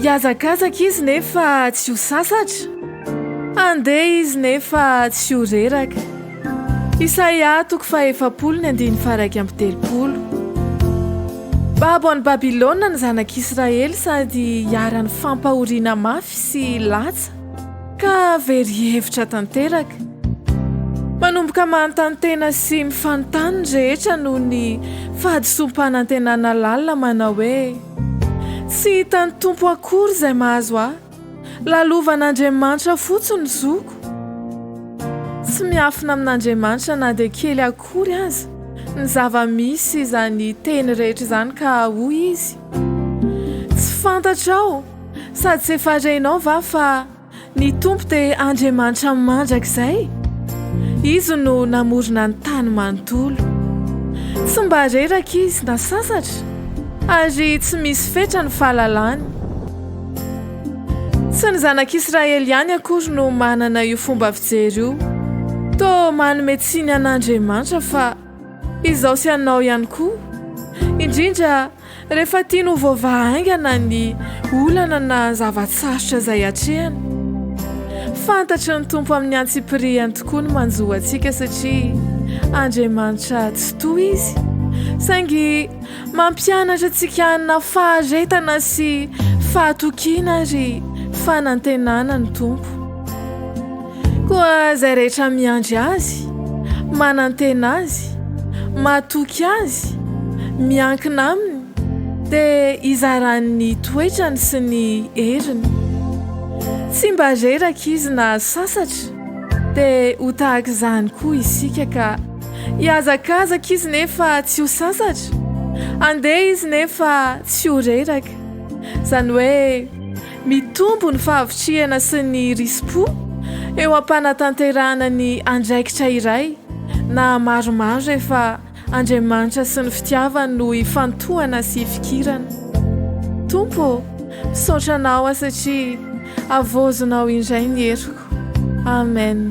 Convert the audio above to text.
Hiazakazaka izy nefa tsy ho sasatra, handeha izy nefa tsy ho reraka. Isaia toko fahefapolo ny andiny faharaika amby telopolo. Babo any Babylona ny zanak'Israely sady iharan'ny fampahoriana mafy sy latsa. Ka very hevitra tanteraka. Manomboka manontany tena sy mifanontany ny rehetra noho ny fahadisoam-panantenana lalina manao hoe, Tsy hitan'ny Tompo akory izay mahazo ahy. Lalovan'Andriamanitra fotsiny ny zoko. Tsy miafina amin'Andriamanitra na dia kely akory aza ny zava-misy izany teny rehetra izany ka hoy izy, Tsy fantatrao. Sady tsy efa renao va fa ny Tompo dia Andriamanitra mandrakizay? Izy no namorona ny tany manontolo. Tsy mba reraka izy na sasatra, ary tsy misy fetra ny fahalalany. Tsy ny zanak'Israely ihany akory no manana io fomba fijery io. Toa manome tsiny an'Andriamanitra fa izao sy anao ihany koa, indrindra Rehefa tiany ho voavaha haingana ny olana na zava-tsarotra izay atrehany, fantatry ny Tompo amin'ny antsipirihany tokoa ny manjo antsika satria Andriamanitra tsitoha Izy, saingy mampianatra antsika hanana faharetana sy fahatokiana ary fanantenana ny Tompo. Koa izay rehetra miandry Azy, manantena Azy, matoky Azy, miankina Aminy, dia hizarany ny toetrany sy ny heriny. Tsy mba reraka Izy na sasatra, dia ho tahaka izany koa isika ka. Hihazakazaka Izy nefa tsy ho sasatra, handeha Izy nefa tsy ho reraka. Izany hoe. Mitombo ny fahavitrihana sy ny risi-po eo am-panatanterahana ny andraikitra iray na maromaro rehefa Andriamanitra sy ny fitiavany no ifantohana sy ifikirana. Tompo ô, misaotra Anao aho satria havaozonao indray ny heriko. Amen.